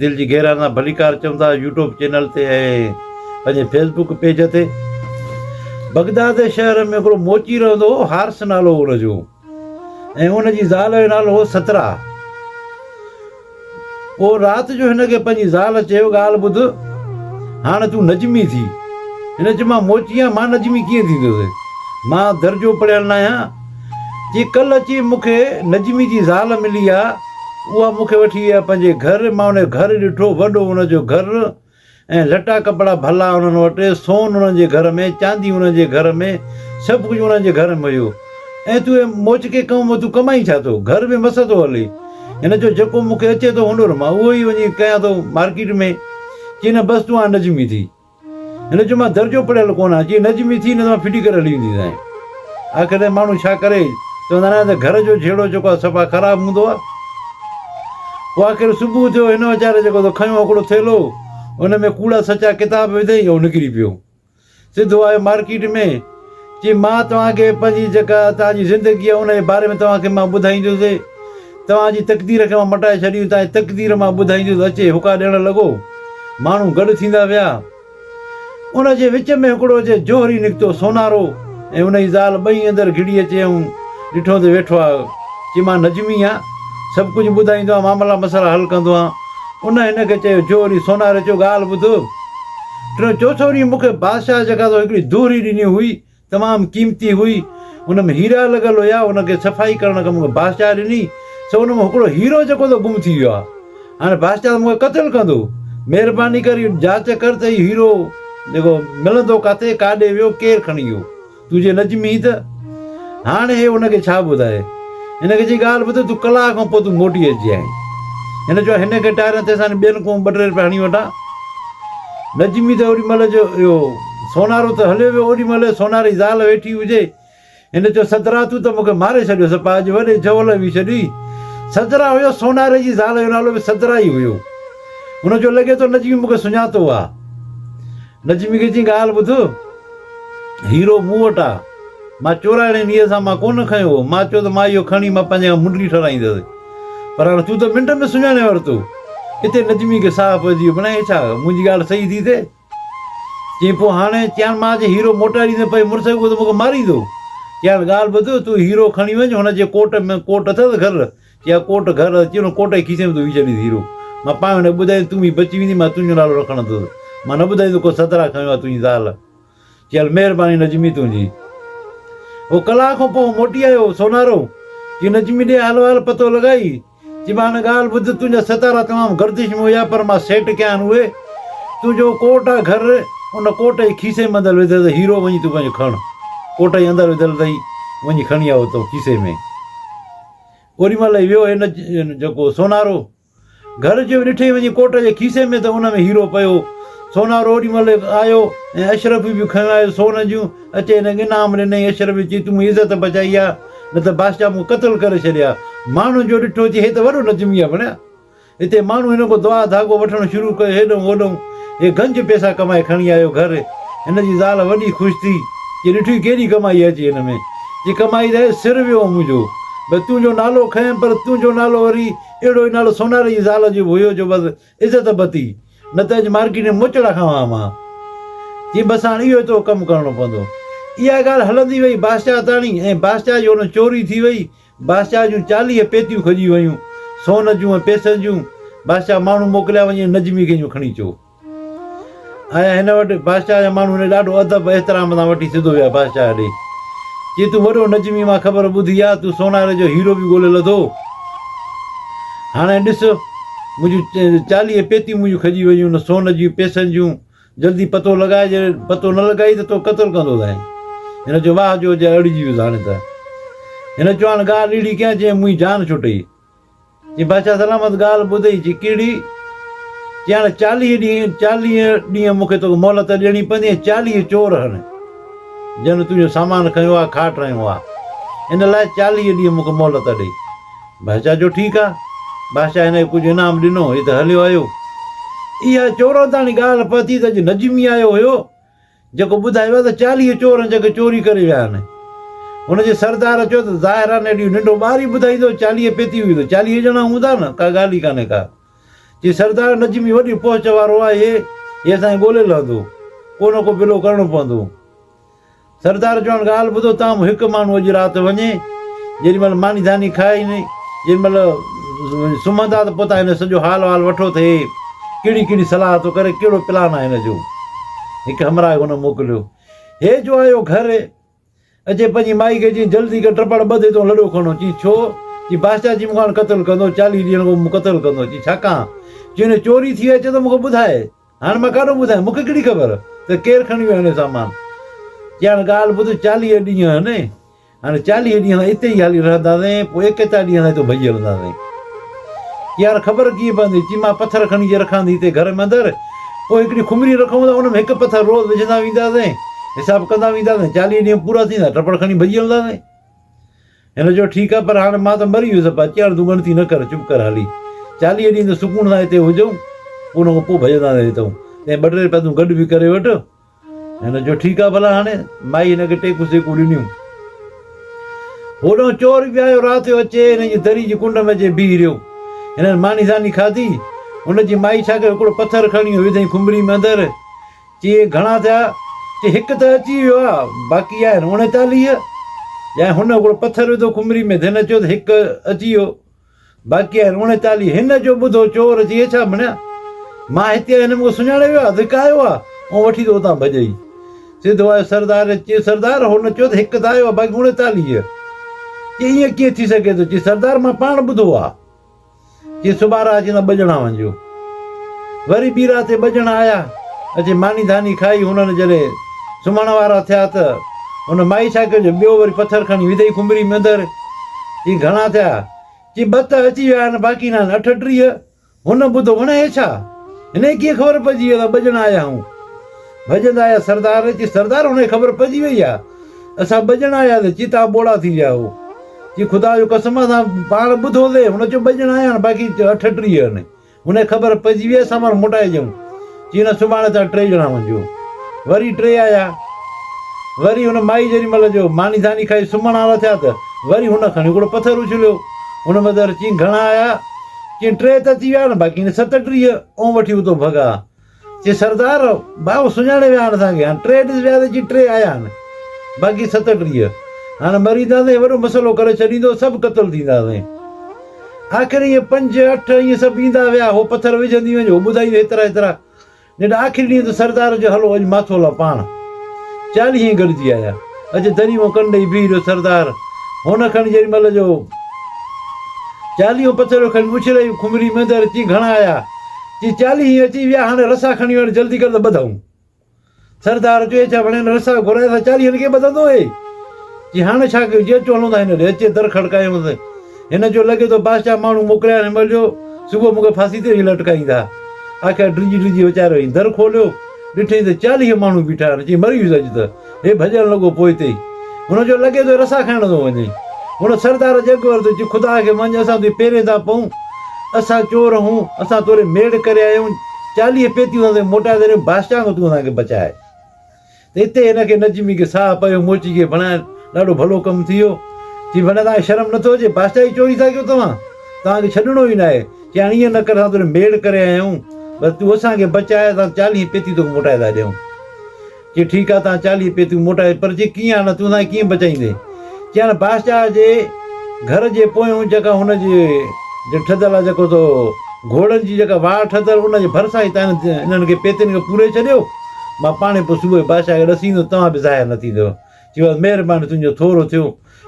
دل جي گهرائين سان ڀليڪار چون ٿا يوٽوب چينل تي ۽ پنهنجي فيس بڪ پيج تي. بغداد شهر ۾ هڪڙو موچي رهندو هو حارث نالو هو ان جو ۽ ان جي زال جو نالو هو سترا. پوء رات جو هن کي پنهنجي زال چيو ڳالهه ٻڌ هاڻ تون نجمي ٿي. هن چيو مان موچي آهيان مان نجمي ڪيئن ٿيندس مان درجو پڙهيل ناهيان. جي ڪل اچي مون کي نجمي جي زال ملي آ اها مون کي وٺي وئي آ پنهنجي گهر مان ان جو گهر ڏٺو وڏو ان جو گهر ۽ لٽا ڪپڙا ڀلا انهن وٽ سون انهن جي گهر ۾ چاندي انهن جي گهر ۾ سڀ ڪجهه انهن جي گهر ۾ هيو ۽ تون اي موچڪي قوم تون ڪمائين ڇا ٿو گهر به مس ٿو هلي هن چيو جيڪو مون کي اچي ٿو هنر مان اهو ئي وڃي ڪيان ٿو مارڪيٽ ۾ چي نه بس تون هاڻ نجمي ٿي هن چيو، مان درجو پڙهيل ڪونه آهيان. جي نجمي ٿي نه ته مان ڦٽي ڪري هلي وينديسانء. آخر تائين ماڻهو ڇا ڪري؟ چوندا ناهن ته گهر جو جهيڙو جيڪو آهي صفا خراب هوندو آهي. پوء آخر صبح ٿيو، هن ويچاري جيڪو سو کنيو هڪڙو ٿيلهو، ان ۾ ڪوڙا سچا ڪتاب وڌئي ۽ نڪري پيو. سڌو آيو مارڪيٽ ۾. جي مان توهان کي پنهنجي جيڪا توهان جي زندگي آهي ان جي باري ۾ توهان کي مان ٻڌائيندس توهان جي تقدير کي مان مٽائي ڇڏيندس توهان جي تقدير مان ٻڌائيندس اچي هڪا ڏيڻ لڳو ماڻهو گڏ ٿيندا ويا ان جي وچ ۾ هڪڙو جي جوهري نڪتو سونارو ۽ ان جي زال ٻئي اندر گھڙي اچي ۽ ڏٺو ته ويٺو آهي چي مان نجمي آهيان سڀ ڪجھه ٻڌائيندو آهيان معاملا مسئلا حل ڪندو آهيان ان هن کي چيو جوهري سوناري چيو ڳالهه ٻڌ ٽيون چوٿون ڏينهن مون کي بادشاهه جي جڳهه تان هڪڙي دوهري ڏني هئي، تمام قيمتي هئي، ان ۾ هيرا لڳل هيا، ان کي صفائي ڪرڻ لاء مون کي بادشاهه ڏني، سو ان مان هڪڙو هيرو جيڪو هتي گم ٿي ويو آهي، هاڻي بادشاهه ته مون کي قتل ڪندو، مهرباني ڪري جاچ ڪر ته هي هيرو جيڪو ملندو ڪاٿي، ڪاڏي ويو، ڪير کڻي ويو. تنهنجي لڄ ۾ ئي ته هاڻ هي هن کي ڇا ٻڌائي. هن کي چئي ڳالهه ٻڌ تون ڪلاڪ کان پوء تون موٽي اچجانء. هن چيو هن کي ٽائرن تي سان ٻين ڪو ٻه ٽي روپيا هڻي وٺان. لڄ ۾ ته اوڏي مهل جو اهو سونارو ته هليو ويو اوڏي مهل سوناري جي زال ويٺي هجي. هن چيو سدرا تون ته مون کي ماري ڇڏيو سپا اڄ وڏي جهول هوي ڇڏي. سدرا هيو سوناري جي زال جو نالو به سدرا ئي هيو. هن چيو لڳي ٿو نجمي مون کي سڃاتو آ. لڇمي کي چيائين ڳالهه ٻڌ، هيرو مون وٽ آ، مان چورائڻي نيت سان مان ڪونه کنيو هو، مان چيو ته مان اهو کڻي مان پنهنجي کان منڊلي ٺارايندس، پر هاڻ تون ته منٽ ۾ سڃاڻي ورتو. اتي لڇمي کي ساهه پئجي ويو، بنان هي ڇا، منهنجي ڳالهه صحيح ٿي ٿئي؟ چيائين پوء هاڻي؟ چيائين مان جي هيرو موٽائي ڏيندس پنهنجي مڙس کي اهو ته مون کي ماريندو. چيائين ڳالهه ٻڌ، تون هيرو کڻي وڃ، هن جي ڪوٽ ۾ ڪوٽ اٿس گهر، يا ڪوٽ گهر اچي ان ڪوٽ جي کيسي ۾ تون وجهي ڇڏينس هيرو. مان پاڻ هن کي ٻڌائيندس تون به بچي ويندين مان تنهنجو نالو رکڻ اندس. مان نه ٻڌائيندس ڪو سدرا کنيو آهي تنهنجي زال. چي هل مهرباني نجمي تنهنجي. هو ڪلاڪ کان پوء موٽي آيو سونارو. چي نجمي ڏي حال وحال پتو لڳائي. چي مان هن ڳالهه ٻڌ تنهنجا ستارا تمام گردش ۾ هيا پر مان سيٽ ڪيا آهن اهي. تنهنجو ڪوٽ آهي گهر ان ڪوٽ جي کيسي ۾ اندر وڌل اٿئي هيرو وڃي تون پنهنجو کڻ. ڪوٽ جي اندر وڌل اٿئي وڃي کڻي آ اتو کيسي ۾. اوري مهل ئي ويو هن جيڪو سونارو گهر جو ڏٺئي وڃي ڪوٽ جي کيسي ۾ ته ان ۾ هيرو پيو هو سونارو اوري مهل آيو ۽ اشرفيون به کنيو آيو سون جون اچي هن کي انعام ڏنئي اشرفي چي تون منهنجي عزت بچائي آ نه ته بادشاهه مون کي قتل ڪري ڇڏي ها ماڻهن جو ڏٺو چي هي ته وڏو نجمي آ ڀڻيا هتي ماڻهو هن کان دعا ڌاڳو وٺڻ شروع ڪيو، هيڏهون هوڏهون هي گنج پيسا ڪمائي کڻي آيو گهر، هن جي زال وڏي خوش ٿي، جي ڏٺوئي ڪيڏي ڪمائي اچي هن ۾، جي ڪمائي رهي سر ويو هو منهنجو، بس تون جو نالو کنئين، پر تون جو نالو وري اهڙو ئي نالو سوناري جي زال جو به هيو جو بس عزت بتي، نه ته اڄ مارڪيٽ ۾ موچڙا کانئن ها مان، چيائين بس هاڻ اهو ئي تون ڪم ڪرڻو پوندو، اها ڳالهه هلندي وئي باسچاء تاڻي ۽ باسچاء جي ان چوري ٿي وئي، بادشاهه جون چاليهه پيتيون کڄي ويون، سون جون ۽ پيسن جون. بادشاهه ماڻهو موڪليا، وڃي ان نجمي کي اڃيون کڻي اچو. آيا هن وٽ، بادشاهه جا ماڻهو هن کي ڏاڍو ادب ۽ احترام سان وٺي سڌو ويا بادشاهه ڏي. چي تون وڏو نجمي مان خبر ٻڌي آ، تون سوناري جو هيرو به ڳولي لڌو. هاڻي ڏس، منهنجون چاليهه پيتيون منهنجون کڄي ويون، نه سون جون پيسن جون. جلدي پتو لڳاء جي پتو نه لڳائي ته تو قتل ڪندو ٿائين. هن چيو واهه جو جي اڙجي ويس هاڻي ته. هن چيو هاڻ ڳالهه نيڙي ڪيان جنهن منهين جان ڇٽئي. چي بادشاهه سلامت ڳالهه ٻڌئي چي ڪهڙي؟ چي هاڻ چاليهه ڏينهن چاليهه ڏينهن مون کي توکي مهلت ڏيڻي پوندي ۽ چاليهه چور هڻ جن تنهنجو سامان کنيو آ کاٽ رنيو آ ان لاء چاليهه ڏينهن مون کي مهلت ڏي. بادشاهه چيو ٺيڪ آ. بادشاهه هن کي ڪجهه انعام ڏنو، هي ته هليو آيو. اها چورن تاڻي ڳالهه پهتي ته اڄ نجمي آيو هيو، جيڪو ٻڌايو آهي ته چاليهه چور هن کي چوري ڪري ويا آهن. هن جي سردار چيو ته ظاهر آ نيٺ اهو ننڍو ٻار ئي ٻڌائيندو، چاليهه پيتي هئي ته چاليهه ڄڻا هوندا نه، ڪا ڳالهه ئي ڪانهي ڪا. چيس سردار نجمي وڏي پهچ وارو آهي، هي اسان کي ڳولي لهندو. ڪو نه ڪو بلو ڪرڻو پوندو. سردار چيو هاڻ ڳالهه ٻڌو توهان مان هڪ ماڻهو اڄ رات وڃي جيڏي مهل ماني ڌاني کائي نه جيڏي مهل سمهندا ته پوء تان هن جو سڄو حال وال وٺو ته هي ڪهڙي ڪهڙي صلاح ٿو ڪري ڪهڙو پلان آهي هن جو هڪ همراهه هن موڪليو هي جو آيو گهر اچي پنهنجي مائي کي چيائين جلدي ڪر ٽپڙ ٻڌي تون لڏو کڻو چي ڇو چي بادشاهه چي مون کان هاڻ قتل ڪندو چاليهه ڏينهن اڳو مون قتل ڪندو چي ڇا ڪان چي هن چوري ٿي وئي اچي ته مون کي ٻڌائي هاڻ مان ڪاڏو ٻڌايان، مون کي ڪهڙي خبر ته ڪير کڻي ويو آهي سامان. ڄڻ ڳالهه ٻڌ چاليهه ڏينهن آهن، هاڻي چاليهه ڏينهن اتي ئي هلي رهنداسين، پوء ايڪيتاهه ڏينهن اتو ڀڄي هلنداسين. چي هاڻ خبر ڪيئن پوندي؟ چي مان پٿر کڻي جي رکان ٿي هتي گهر ۾ اندر، پوء هڪڙي خمري رکون ٿا، ان ۾ هڪ پٿر روز وجهندا وينداسين، حساب ڪندا وينداسين، چاليهه ڏينهن پورا ٿيندا، ٽپڙ کڻي ڀڄي هلنداسين. هن چيو، ٺيڪ آهي، پر هاڻ مان ته مري ويس، پ ڄڻ تون ڳڻتي نه ڪر، چپ ڪر هلي. چاليهه ڏينهن ته سڪون سان هتي هجئون، ان کان پوء ڀڄندا نه هتئون. تنهن ٻه ٽي پيدون گڏ به ڪري وٺ. هن چيو، ٺيڪ آهي ڀلا هاڻي. مائي هن کي ٽيڪون سيڪون ڏنيون. هوڏانهن چور به آيو، رات جو اچي هن جي دري جي ڪنڊ ۾ اچي بيهي رهيو. هنن ماني ساني کاڌي. هن جي مائي ڇا ڪيو، هڪڙو پٿر کڻي وڌئين کنڀري ۾ اندر. چي گهڻا ٿيا؟ چي هڪ ته اچي ويو آ، باقي آهن اوڻيتاليهه. يعني هن هڪڙو پٿر وڌو کمري ۾، ڌن اچيو ته هڪ اچي ويو، باقي آهن اوڻيتاليهه. هن جو ٻڌو چور چي اڇا مڙيا! مان هتي آهيان، هن مون کي سڃاڻي ويو آ، ڌڪايو آ، ائون وٺي ته اتان ڀڄئي. سڌو آيو سردار ڏي، چي سردار هن چيو ته هڪ ته آيو آ، باقي اوڻيتاليهه. چي ائين ڪيئن ٿي سگهي ٿو؟ چي سردار مان پاڻ ٻڌو آ. جي سوڀارا اچي ته ٻه ڄڻا وڃجو. وري ٻي رات تي ٻه ڄڻا آيا، اچي ماني ڌاني کائي هنن جڏهن سمهڻ وارا ٿيا ته هن مائي ڇا ڪيو جو ٻيو وري پٿر کڻي وڌئي کنڀري ۾ اندر. چيائين گهڻا ٿيا؟ چي ٻه ته اچي ويا آهن باقي ناهن اٺٽيهه. هن ٻڌو هن هي ڇا؟ هن کي ڪيئن خبر پئجي وئي ته ٻه ڄڻا آيا آهيون؟ ڀڄندا آيا سردار. چي سردار هن کي خبر پئجي وئي آهي اسان ٻه ڄڻا آياسين چي توهان ٻوڙا ٿي ويا هئو. چي خدا جو قسم اسان پاڻ ٻڌو سي هن چيو ٻه ڄڻا آيا باقي اٺٽيهه آهن هن کي خبر پئجي وئي اسان پاڻ موٽائي اچون چي نه سڀاڻي تان ٽي ڄڻا وڃجو وري ٽي آيا وري هن مائي جيڏي مهل جو ماني ڌاني کائي سمهڻ وارا ٿيا ته وري هن کڻي هڪڙو پٿر اڇليو هن مدر چي گهڻا آيا چي ٽي ته ٿي ويا نه باقي ستٽيهه او وٺي اتو ڀڳا چي سردار! ڀائو سڃاڻي ويا آھن اسان کي، ھاڻ ٽي ڏس ويا تھ اچي ٽي آيا آھن، باقي ستٽيھھ، ھاڻ مرينداسين، وڏو مسئلو ڪري ڇڏيندو، سڀ قتل ٿينداسين. آخر ائين پنج، اٺ، ائين سڀ ايندا ويا، ھو پٿر وجھندي وڃ، ھو ٻڌائيندي ھيترا ھيترا، جڏھن آخري ڏينھن تھ سردار چيو ھلو اڄ ماٿو ھلان پاڻ. چاليھھ ھين گڏجي آيا. اچي دريء مان ڪن ڏئي بيھھ رھيو سردار، ھن کڻي جيڏي مھل جو چاليھون پٿريو کڻي اڇلائي، کمري ۾ ويھندي، ھر چيس گھڻا آيا؟ جي چاليهي هين اچي ويا هاڻي رسا کڻي وڃ جلدي ڪر ته ٻڌائون سردار چوي ڇا وڻين رسا گهرائي سا چاليهن کي ٻڌندو هي جي هاڻي ڇا ڪيو جي اچو هلون ٿا هن ڏي اچي در کڙڪايونس هن جو لڳي ٿو بادشاهه ماڻهو موڪليا آهن مل جو صبح مونکي ڦاسي تي ويهي لٽڪائيندا آخر ڊڄي ڊڄي ويچارو هين در کوليو ڏٺئين ته چاليهه ماڻهو بيٺا آهن چئين مري ويس اڄ ته هي ڀڄڻ لڳو پوئتي ئي هن جو لڳي ٿو رسا کڻڻ ٿو وڃي هن سردار جڳ ورتو چي خدا کي مڃ اسان تون پيرين ٿا پئون اسان چور هون اسان توري ميڙ ڪري آيا آهيون چاليهه پيتيون اسان تونکي موٽائي ٿا ڏيون بادشاهه کان تون اسان کي بچاء ته اتي هن کي نجمي کي ساهه پيو موچي کي بڻائين ڏاڍو ڀلو ڪم ٿي ويو چي ڀلا توهان کي شرم نٿو اچي بادشاهه جي چوري ٿا ڪيو توهان توهان کي ڇڏڻو ئي نه آهي چي هاڻي ائين نه ڪر اسان توري ميڙ ڪري آيا آهيون بس تون اسان کي بچاء اسان چاليهه پيتيون توکي موٽائي ٿا ڏيون چيو ٺيڪ آ تان چاليهه پيتيون موٽائي پر چي ڪيئن آڻان تون اسانکي ڪيئن بچائيندين چيائين باشاهه جي گهر جي پويون جيڪا هن جي جي ٺڌل آ جيڪو تو گهوڙن جي جيڪا واڙ ٺڌل ان جي ڀرسان ئي تان انهن کي پيتين کي پوري ڇڏيو مان پاڻهي پوء صبح جو باشاهه کي ڏسيندس توهان به ظاهر نه ٿيندو چيوس مهرباني تنهنجو ٿورو ٿيو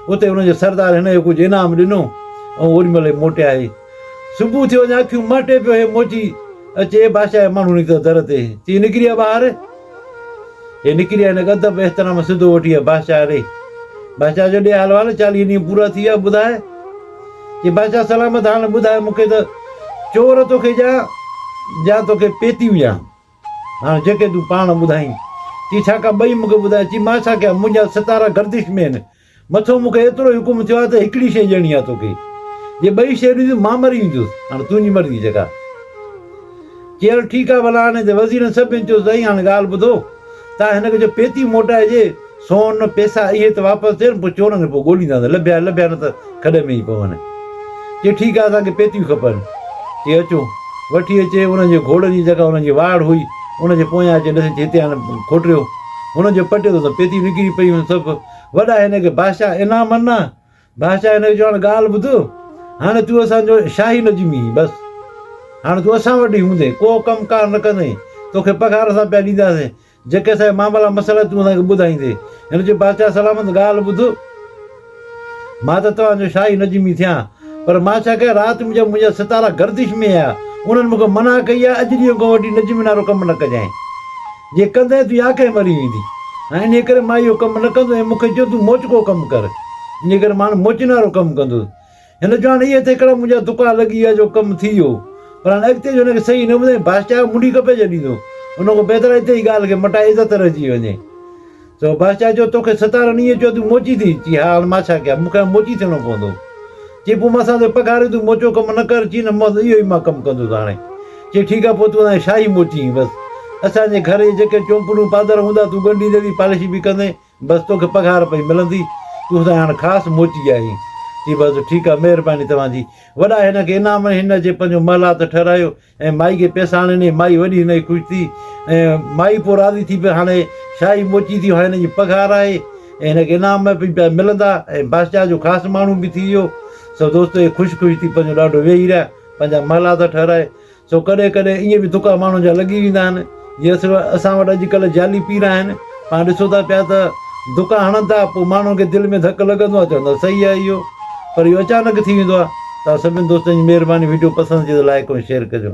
اتي هن جو سردار هن کي ڪجهه انعام ڏنو ۽ اوري مهل هي موٽي آهي. صبح ٿيو اڃا اکيون مهٽي پيو هي موٽي اچي بادشاهه جا ماڻهو نڪتا در تي چي نڪري آ ٻاهر. هي نڪري آ هنک ادب احترام سڌو وٺي آ بادشاهه ڏي. بادشاهه جو ڏي حال وال چاليهه ڏينهن پورا ٿي ويا ٻڌاء. چي بادشاهه سلامت حال ٻڌاء مون کي ته چور توکي ڏيان يا توکي پيتي وجهان. هاڻ جيڪي تون پاڻ ٻڌائين. چي ڇا ڪا ٻئي مون کي ٻڌائي. چي مان ڇا ڪيان منهنجا ستارا گردش ۾ آهن. مٿو مون کي ايترو ئي حڪم ٿيو آهي ته هڪڙي شيء ڏيڻي آهي توکي. جي ٻئي شيء ڏنيون مان مري ويندس. هاڻ تنهنجي مرضي جيڪا. چي هل ٺيڪ آهي ڀلا هاڻي ته وزيرن سڀني چيو سائين هاڻي ڳالهه ٻڌو. تان هن کي چئو پيتي موٽائجي. سون پيسا اهي ته واپس ڏين، پوء چورن کي پوء ڳولينداسين، لڀيا لڀيا نه ته کڏ ۾ ئي پون. چي ٺيڪ آهي، اسان کي پيتيون کپن. چي اچو. وٺي اچي انهن جي گهوڙن جي جيڪا انهن جي واڙ هئي، ان جي پويان اچي ڏسي چي هتي هاڻي کوٽريو. هن جو پٽيو ته پيتيون نڪري پيون سڀ. وڏا هن کي بادشاهه انعام انا. بادشاهه هن کي چيو هاڻي ڳالهه ٻڌ، هاڻي تون اسان جو شاهي نه ڄمين بس. هاڻي تون اسان وٽ ئي هوندين، ڪو ڪم ڪار نه ڪندين، توکي پگهار اسان پيا ڏينداسين. جيڪي اسان جي معاملا مسئلا تون اسان کي ٻڌائيندي. هن چيو، بادشاهه سلامت ڳالهه ٻڌ. مان ته توهان جو شاهي نجمي ٿيان، پر مان ڇا ڪيان؟ رات مجب منهنجا ستارا گردش ۾ آيا. انهن مون کي منع ڪئي آهي، اڄ ڏينهن کان وٺي نجمين وارو ڪم نه ڪجانء. جي ڪندين تنهنجي آکهه مري ويندي. هاڻي انهيء ڪري مان اهو ڪم نه ڪندس ۽ مون کي چيو، تون موچڪو ڪم ڪر. انهيء ڪري مان هاڻي موچين وارو ڪم ڪندس. هن چيو هاڻ ايئن ته هڪڙا منهنجا دڪا لڳي ويا جو ڪم ٿي ويو پر هاڻ اڳتي جو هن کي صحيح نه ٻڌايم بادشاهه منڍي ڪپي جڏيندو ان کان بهتر آهي ته هي ڳالهه کي مٽائي عزت رهجي وڃي سو بادشاهه چيو توکي ستارن ايئن چيو تون موچي ٿي چي ها هاڻ مان ڇا ڪيان مون کي هاڻ موچي ٿيڻو پوندو چي پوء مان ساندي پگهار تون موچو ڪم نه ڪر چي نه مون اهو ئي مان ڪم ڪندس هاڻي چي ٺيڪ آهي پوء تون اسان کي شاهي موچي بس اسان جي گهر جي جيڪي چونپڙون پادر هوندا تون ڳنڍيندي ويهه پالش به ڪندين بس توکي پگهار پئي ملندي، تون ته هاڻ خاص موچي آهين. چي بس ٺيڪ آ، مهرباني توهان جي. وڏا هن کي انعام ۽ هن جي پنهنجو محلات ٺهرايو ۽ مائي کي پئسا آڻي ڏني. مائي وڏي هن جي خوش ٿي ۽ مائي پوء راضي ٿي پئي هاڻي شاهي موچي ٿي هاڻي هن جي پگهار آهي ۽ هن کي انعام ۾ پئي پيا ملندا ۽ بادشاهه جو خاص ماڻهو به ٿي ويو. سو دوستو هي خوش خوش ٿي پنهنجو ڏاڏو ويهي رهيا پنهنجا محلات ٺهرائي سو ڪڏهن ڪڏهن ائين به تڪا ماڻهن جا لڳي ويندا آهن جي اسر اسان وٽ اڄڪلهه جعلي پير آهن پاڻ ڏسو ٿا پيا ته دڪا هڻن ٿا پوء ماڻهن کي دل ۾ ڌڪ لڳندو آهي چوندا صحيح آهي اهو پر اهو اچانڪ ٿي ويندو آهي تان سڀني دوستن جي مهرباني وڊيو پسند ٿئي ته لائڪ ۽ شيئر ڪجو